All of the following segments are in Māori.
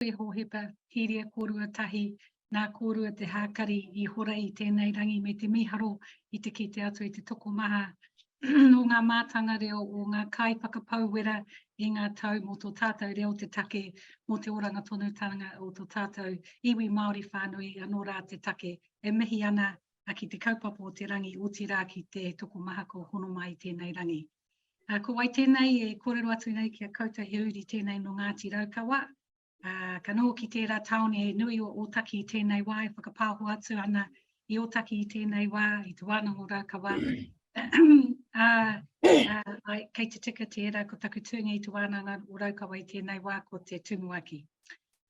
e Hōhepa, Hīria kōrua tahi, nā kōrua te hākari i hora i tēnei rangi me te mīharo i te kite atu i te tokomaha nō ngā mātanga reo o ngā kaiwhakapau wera i ngā tau mō tō tātou reo te take, mō te oranga tonutanga o tō tātou iwi Māori whānui anō rā te take. E mihi ana ki te kaupapa o te rangi, otirā ki te tokomaha kua hono mai i tēnei rangi. Uh, ko wai tēnei e kōrero atu nei ki a koutou he uri tēnei no Ngāti Raukawa. Uh, ka noho ki tērā taone e nui o Ōtaki tēnei wā e whakapāho atu ana i Ōtaki i tēnei wā, i Te Wānanga o Raukawa. uh, uh, kei te tika tērā ko taku tūnga i Te Wānanga o Raukawa i tēnei wā ko te Tumuaki.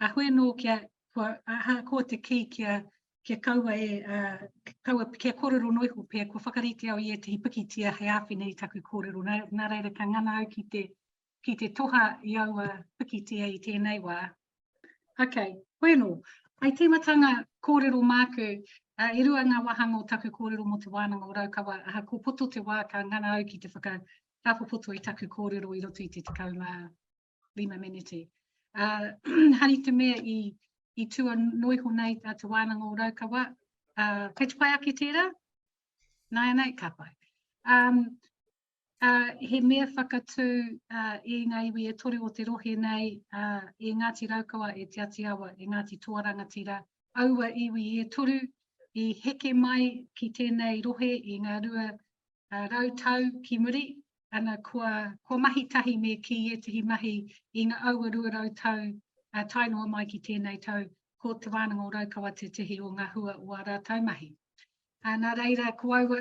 Ahoi nō kia, kua, aha, ko te kī kia kia kaua e, kaua, kia kōrero noa iho pea, kua whakarite au i ētahi pikitia hei āwhina i taku kōrero, nā, nā reira ka ngana au ki te, ki te toha i aua pikitia i tēnei wā. Ok, koe anō. Hei tīmatanga kōrero māku, uh, e rua ngā wāhanga o taku kōrero mō te wānanga o Raukawa, aha, ko poto te wā ka ngana au ki te whaka, ka popoto i taku kōrero i roto i te tekau mā, Lima Menete. Uh, hari te mea i, i tua noiho nei a Te Wānanga o Raukawa, uh, kei te pai ake tērā? Nā e nei, ka pai. Um, uh, he mea whakatū uh, e ngā iwi e toru o te rohe nei, uh, e Ngāti Raukawa, e Te Ati Awa, e Ngāti Toa Rangatira, aua iwi e toru i heke mai ki tēnei rohe i ngā rua uh, rau tau ki muri, ana kua, kua mahi tahi me kī ētehi mahi i nga aua 200 tau ā tae noa mai ki tēnei tau, ko Te Wānanga o Raukawa tētehi o ngā hua o ā rātau mahi. Ā, nā reira ko aua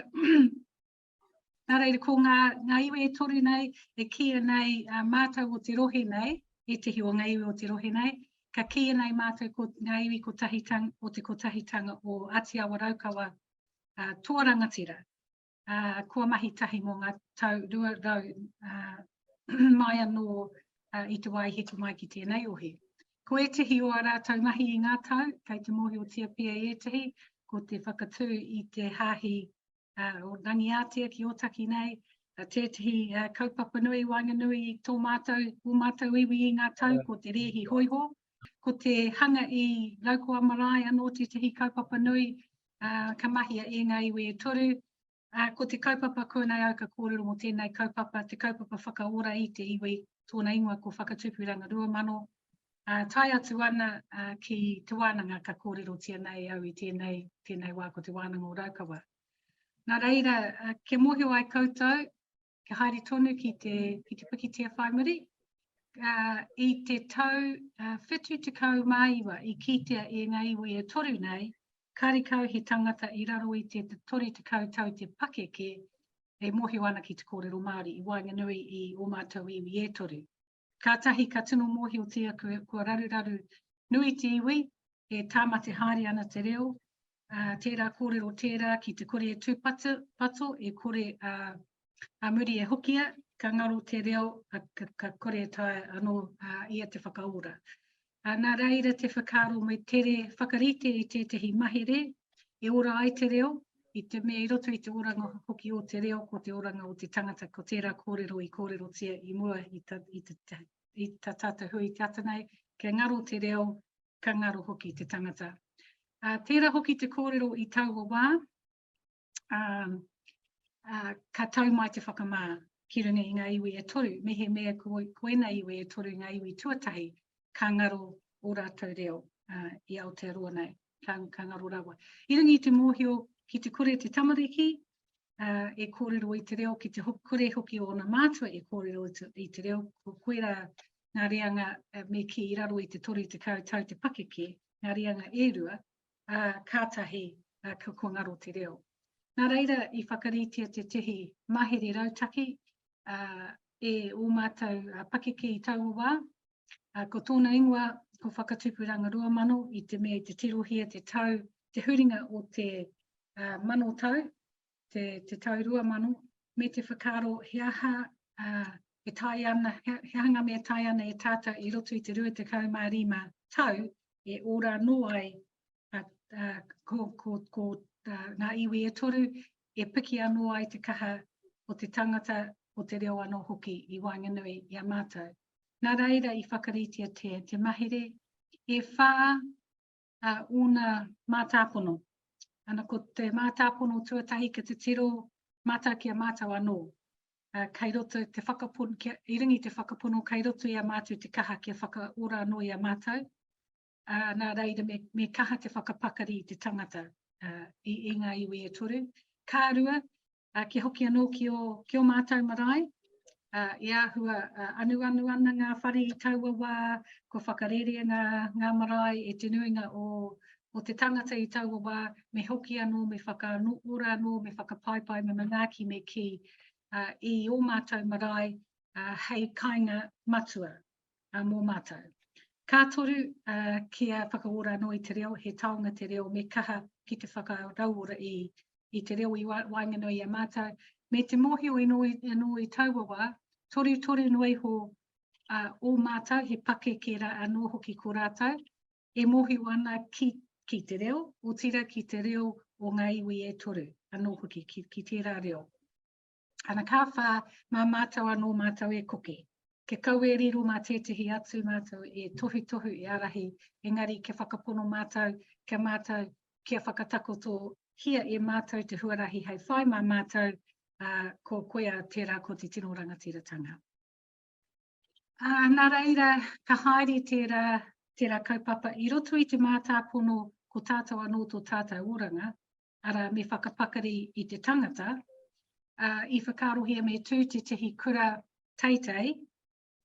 nā reira ko ngā, ngā iwi e toru nei e kīia nei a mātau o te rohe nei, ētehi o ngā iwi o te rohe nei, ka kīia nei mātau ko ngā iwi kotahitang, o te kotahitanga o Ati Awa Raukawa, ā, tō rangatira. uh, kua mahi tahi mō ngā tau 200 uh, mai anō uh, i te wā i heke mai ki tēnei ohi. Ko ētehi o a rātou mahi i ngā tau, kei te mōhiotia pia i ētehi, ko te whakatū i te hāhi uh, o Rangiātea ki Otaki nei, uh, tētehi uh, kaupapa nui i waenganui i tō mātou, o mātou iwi i ngā tau, ko te rēhi hoiho, ko te hanga i Laukoa Marae anō tētehi kaupapa nui, uh, ka mahia e ngā iwi e toru, uh, ko te kaupapa kōnei au ka kōrero mō tēnei kaupapa, te kaupapa whakaora i te iwi, tōna ingoa ko Whakatupuranga Ruamano, uh, tai atu ana uh, ki te wānanga ka kōrerotia nei au i tēnei, tēnei wā ko te wānanga o Raukawa. Nā reira, uh, kia mōhio ai koutou, kia haere tonu ki te, ki te pikitia whai muri. Uh, I te tau uh, whitu te kau māiwa i kītea e ngā iwi e toru nei, karikau he tangata i raro i te tori te kau tau te pakeke e mohio ana ki te kōrero Māori i waenganui i o mātou iwi e toru. Kātahi ka tino mōhiotia kua raruraru nui te iwi, e tāmate haere ana te reo, ā, tērā kōrero tērā ki te kore e tūpato, pato, e kore ā, ā muri e hokia, ka ngaro te reo, ka, ka, ka kore e taea anō ā, ia te whakaora. Ā, nā reira te whakaaro me tere whakarite i tētahi mahere e ora ai te reo, i te mea i roto i te oranga hoki o te reo ko te oranga o te tangata, ko tērā kōrero i kōrerotia i mua i ta, i te, i ta tātou hui i te ata nei, kia ngaro te reo, ka ngaro hoki te tangata. Ā, tērā hoki te kōrero i taua wā, ka tau mai te whakamā ki runga i ngā iwi e toru, mehemea ko, ko ēnei iwi e toru ngā iwi tuatahi, ka ngaro ō rātou reo uh, i Aotearoa nei, ka, ka ngaro rawa. I runga i te mōhio ki te kore te tamariki, uh, e kōrero i te reo, ki te kore hoki o ōna mātua e kōrero i te reo, ko koera ngā reanga uh, me ki i raro i te toru te kautau te pakeke, ngā reanga e rua, ā, kātahi ā, ka kua ngaro te reo. Nā reira, i whakaritea tētahi mahere rautaki ā, e ō mātou ā, pakeke i taua wā, ā, ko tōna ingoa ko Whakatupuranga Rua Mano i te mea i te tirohia te tau, te huringa o te ā, mano tau, te, te tau rua mano, me te whakaaro he aha uh, e tai ana, he, he hanga me tai ana e tātou i roto i te 25 tau e ora anō ai a, a, ko, ko, ko a, ngā iwi e toru e piki anō ai te kaha o te tangata o te reo anō hoki i waenganui i a mātou. Nā reira i whakaritia te, te mahere e whā a ōna mātāpono. Ana ko te mātāpono tuatahi ki te tiro mata ki a mātou anō. Uh, kei roto te whakapono, kia, i ringi te whakapono, kei roto i a mātou te kaha kia whakaora anō i a mātou. Uh, nā reira me, me kaha te whakapakari i te tangata uh, i, i ngā iwi e toru. Kā rua, ā, kia hoki anō ki ō, ki ō mātou marae, ā, e āhua anuanu ana ngā whare i taua wā, kua whakarērea ngā, ngā marae e te nuinga o, o te tangata i taua wā, me hoki anō, me whakaanō, ora anō, me whakapaipai, me manaaki, me kī, ā, i ō mātou marae, ā, hei kainga matua. a mō mātou. Ka toru, a, kia whakaora anō i te reo, he taonga te reo, me kaha ki te whakarauora i, i te reo i wa, waenganui i a mātou, me te mōhio ino, ino i taua wā, torutoru noa iho a, o mātou, he pakeke rā anō hoki ko rātou, e mōhio ana ki, ki te reo, otira ki te reo o ngā iwi e toru, anō hoki ki, ki tērā reo. Ana ka wha, ma matou ano matou e koke. Kia kau e riro ma tetahi atu matou e tohutohu e arahi, engari kia whakapono matou, kia matou, kia whakatakoto hia e matou te huarahi hei whai ma matou, a, ko koea tera ko te tino rangatiratanga. A, na reira, ka haere tera, tera kaupapa i roto i te matapono ko tatou ano to tatou oranga, arā, me whakapakari i te tangata, ā, i whakaarohia me tū tētahi kura teitei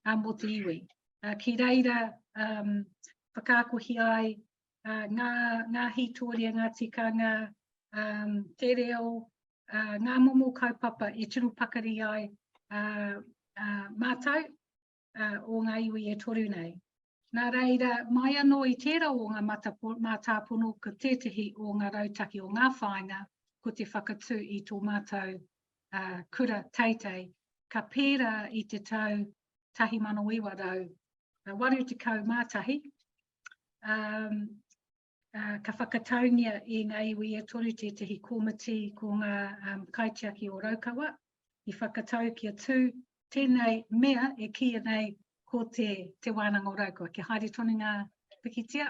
ā, mō te iwi. Ā, ki reira um, whakaakohi ai ā, ngā, ngā hītoria, ngā tikanga, um, te reo, ā, ngā momo kaupapa e tino pakari ai ā, ā, mātou o ngā iwi e toru nei. Nā reira, mai anō i tērā o ngā mātāpono ko tētehi o ngā rautaki o ngā whāinga ko te whakatū i tō mātou uh, kura teitei ka pērā i te tau 1981 um, Ā, ka whakataungia i ngā iwi e toru tētehi kōmiti ko ngā kaitiaki o Raukawa, i whakatau kia tū tēnei mea e kīia nei ko te Te Wānanga o Raukawa, kia haere tonu ngā pikitia.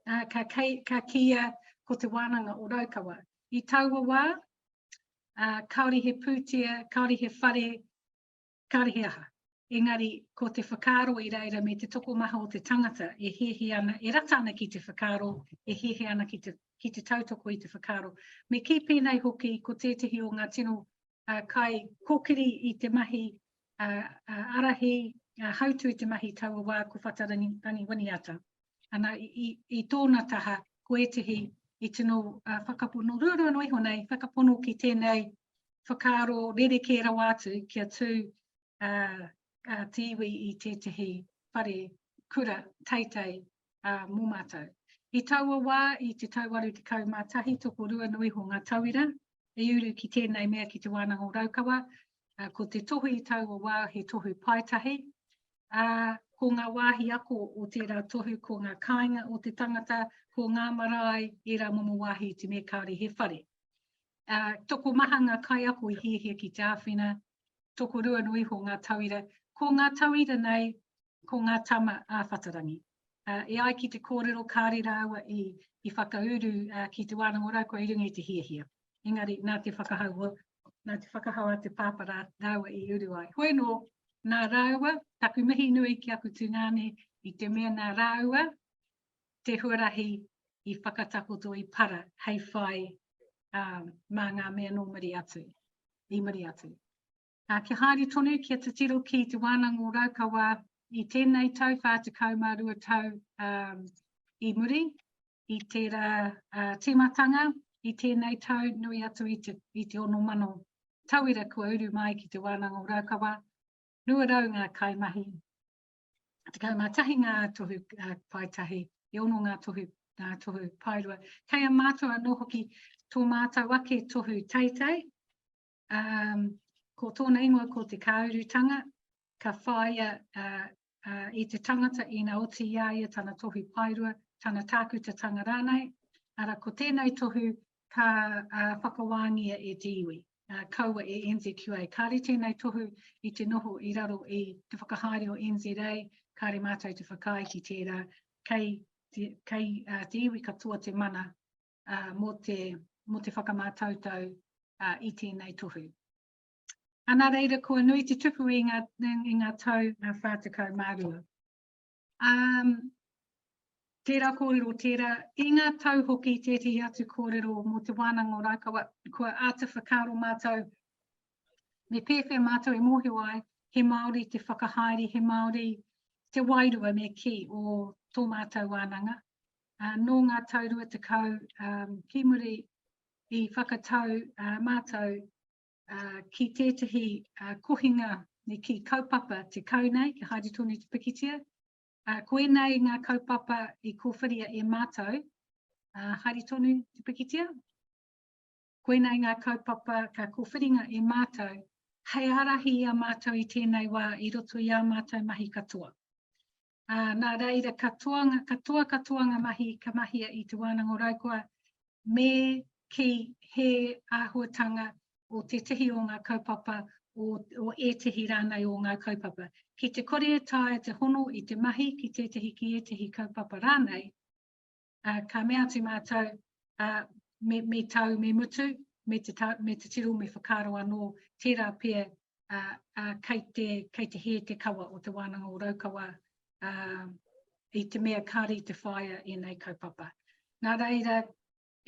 Ā, ka, ka kīia ko Te Wānanga o Raukawa. I taua wā, ā, kāore he pūtea, kāore he whare, Kāre he aha. Engari, ko te whakaaro i reira me te tokomaha o te tangata e hehe ana, e rata ana ki te whakaaro, e hehe ana ki te ki te tautoko i te whakaaro. Me kī pēnei hoki ko tētehi o ngā tino uh, kai kokiri i te mahi uh, uh, arahi uh, hautu i te mahi taua wā ko Whatarangi Rangi Winiata. Ana, i, i tōna taha, ko ētehi i tino uh, whakapono, rūrū no iho nei, whakapono ki tēnei whakaaro rerekē rawa atu kia tū uh, uh, te iwi i tētehi whare kura teitei uh, mō mātou. I taua wā, i te tau 81, toko rua no iho ngā tauira, i uru ki tēnei mea ki te wānanga o Raukawa, Ko te tohu i taua wā he tohu paetahi, ā, ko ngā wāhi ako o tērā tohu ko ngā kāinga o te tangata, ko ngā marae, ērā momo wāhi i te mea kāore he whare. Ā, tokomaha ngā kaiako i hiahia ki te āwhina, tokorua noa iho ngā tauira, ko ngā tauira nei, ko ngā tama āwhatarangi. e ai ki te kōrero kāre rāua i, i whakauru uh, ki te wānanga rau kua i runga i te hiahia. Engari, nā te whakahau, nā te whakahau a te pāpa rā, rāua i uru ai. Hoi nō, nā rāua, taku mihi nui ki aku tūngāne, i te mea nā rāua, te huarahi i whakatakoto i para, hei whai um, mā ngā mea nō muri atu, i muri atu. Ā, kia haere tonu, kia titiro ki Te Wānanga o Raukawa i tēnei tau 42 tau i muri i tērā tīmatanga i tēnei tau nui atu i te, i te ono mano tauira kua uru mai ki Te Wānanga o Raukawa, 200 ngā kaimahi, 11 ngā tohu paetahi, e ono ngā tohu, ngā tohu paerua. Kei a mātou anō hoki tō mātou ake tohu teitei, Um, ko tōna ingoa ko te kāurutanga, ka whāia uh, uh, i te tangata ina oti i a ia tana tohu paerua, tana tākutatanga rānei, ara ko tēnei tohu ka uh, whakawāngia e te iwi. Uh, kaua e NZQA. Kāre tēnei tohu i te noho i raro i te whakahaere o NZA, kāre mātou te whakaae ki tērā, kei te, kei, uh, te iwi katoa te mana mō te, mō te whakamātautau i tēnei tohu. Ana reira kua nui te tupu i ngā, i ngā tau 42. Um, tērā kōrero, tērā, i ngā tau hoki tētahi atu kōrero mō te wānanga o Rākawa, kua āta whakaaro mātou, me pēwhea mātou e mōhio ai, he Māori te whakahaere, he Māori te wairua me ki o tō mātou wānanga, nō ngā tau rua tekau ki muri i whakatau mātou ki tētahi kohinga ki kaupapa tekau nei, kia haere tonu te pikitia. Ko ēnei ngā kaupapa i kōwhiria e mātou, haere tonu te pikitia. Ko ēnei ngā kaupapa ka kōwhiringa e mātou hei ārahi i a mātou i tēnei wā i roto i ā mātou mahi katoa. Ā, nā reira katoa ngā, katoa katoa ngā mahi ka mahia i Te Wānanga o Raukawa me kī he āhuatanga o tētehi o ngā kaupapa, o, o ētehi rānei o ngā kaupapa. Ki te kore e taea te hono i te mahi ki tētehi, ki ētehi kaupapa rānei, ā, ka mea atu mātou, ā, me, me tau, me mutu, me te, ta, me te tiro, me whakaaro anō, tērā pea, ā, ā, kei, te, kei te hē te kawa o te wānanga o Raukawa, ā, i te mea kāre i te whāia ēnei kaupapa. Nā reira,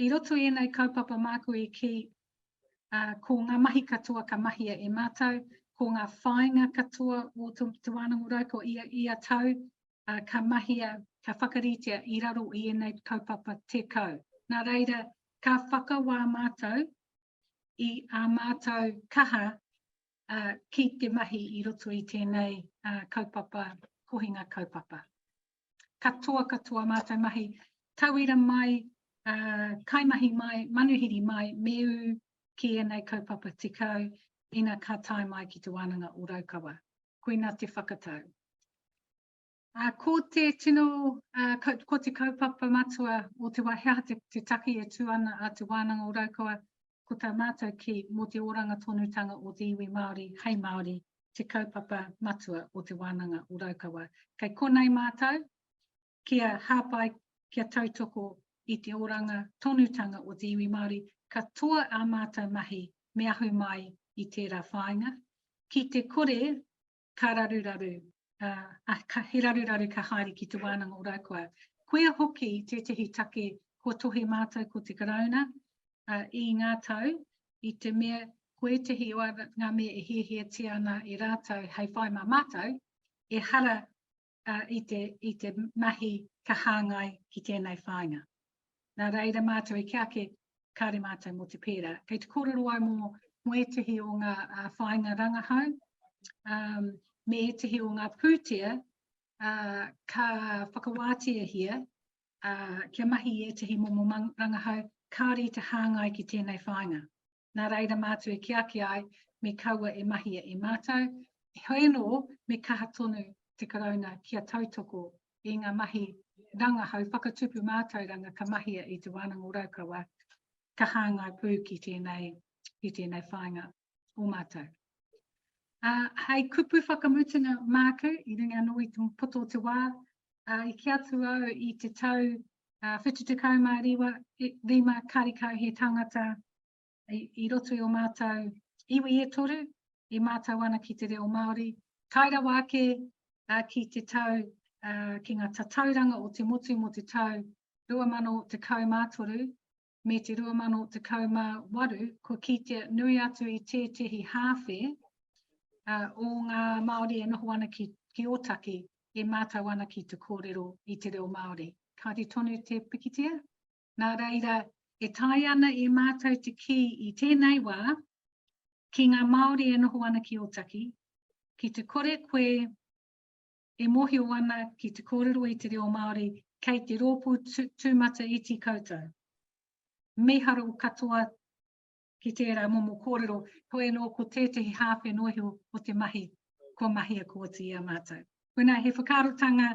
i roto i ēnei kaupapa māku i kī, ā, ko ngā mahi katoa ka mahia e mātou, ko ngā whāinga katoa o te, te wānanga o Raukawa ia, ia tau, ā, ka mahia, ka whakaritea i raro i ēnei kaupapa 10. Nā reira, ka whakawā mātou i ā mātou kaha ā, ki te mahi i roto i tēnei ā, kaupapa, kohinga kaupapa. Katoa, katoa mātou mahi, tauira mai, ā, kaimahi mai, manuhiri mai, me ū ki ēnei kaupapa 10, ina ka tae mai ki Te Wānanga o Raukawa. Koina te whakatau. Ko te tino, ko te kaupapa matua o te wā he aha te take e tū ana a Te Wānanga o Raukawa, ko tā mātou kī, mō te oranga tonutanga o te iwi Māori hei Māori te kaupapa matua o Te Wānanga o Raukawa. Kei konei mātou kia hāpai, kia tautoko i te oranga tonutanga o te iwi Māori, katoa ā mātou mahi me ahu mai i tērā whāinga, ki te kore ka raruraru, ā, ka, he raruraru ka haere ki te wānanga o Raukawa. Koia hoki tētehi take kua tohe mātou ko te Karauna i ngā tau, i te mea ko ētehi o ngā mea e hiahiatia ana e rātou hei whai mā mātou, ehara i te, i te mahi ka hāngai ki tēnei whāinga. Nā reira mātou i kia ake, kāre mātou mō te pērā. Kei te kōrero ai mō, mō ētehi o ngā uh, whāinga rangahau, um, me ētehi o ngā pūtea, uh, ka whakawātiahia uh, kia mahi i ētehi momo rangahau, kāre i te hāngai ki tēnei whāinga. nā reira mātou e kī ake ai, me kaua e mahia e mātou, heoi anō, me kaha tonu te Karauna kia tautoko i ngā mahi rangahau whakatupu mātauranga ka mahia i Te Wānanga o Raukawa, ka hāngai pū ki tēnei, ki tēnei whāinga o mātou. Uh, hei kupu whakamutunga māku, i runga anō i te poto o te wā, uh, i ki atu au i te tau Ā, whitu tekau mā riwa, he rima karikau he tangata i, i roto i o mātou iwi e toru, e mātou ana ki te reo Māori, tae rawa ake ā, ki te tau, ā, ki ngā tatauranga o te motu mō te tau 2013, me te 2018 kua kitea nui atu i tētehi hāwhe o ngā Māori e noho ana ki, ki Ōtaki e mātau ana ki te kōrero i te reo Māori. Kāre tonu te pikitia? Nā reira, e tae ana e mātau te kī i tēnei wā, ki ngā Māori e noho ana ki Ōtaki, ki te kore koe e mōhio ana ki te kōrero i te reo Māori kei te rōpū tūmata iti koutou. Mīharo katoa ki tērā momo kōrero, heoi anō ko tētehi hāwhe nohi o te mahi kua mahia ko oti i a mātou. Wena, he whakaarotanga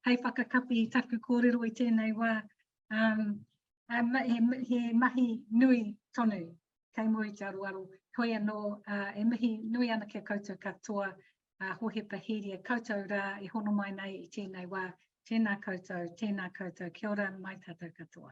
hei whakakapi i taku kōrero i tēnei wā, um, um, he, he mahi nui tonu kei muri te aroaro, heoi anō uh, e mihi nui ana ki a koutou katoa, a Hohepa Heria, koutou rā e hono mai nei i tēnei wā, tēnā koutou, tēnā koutou, kia ora mai tātou katoa.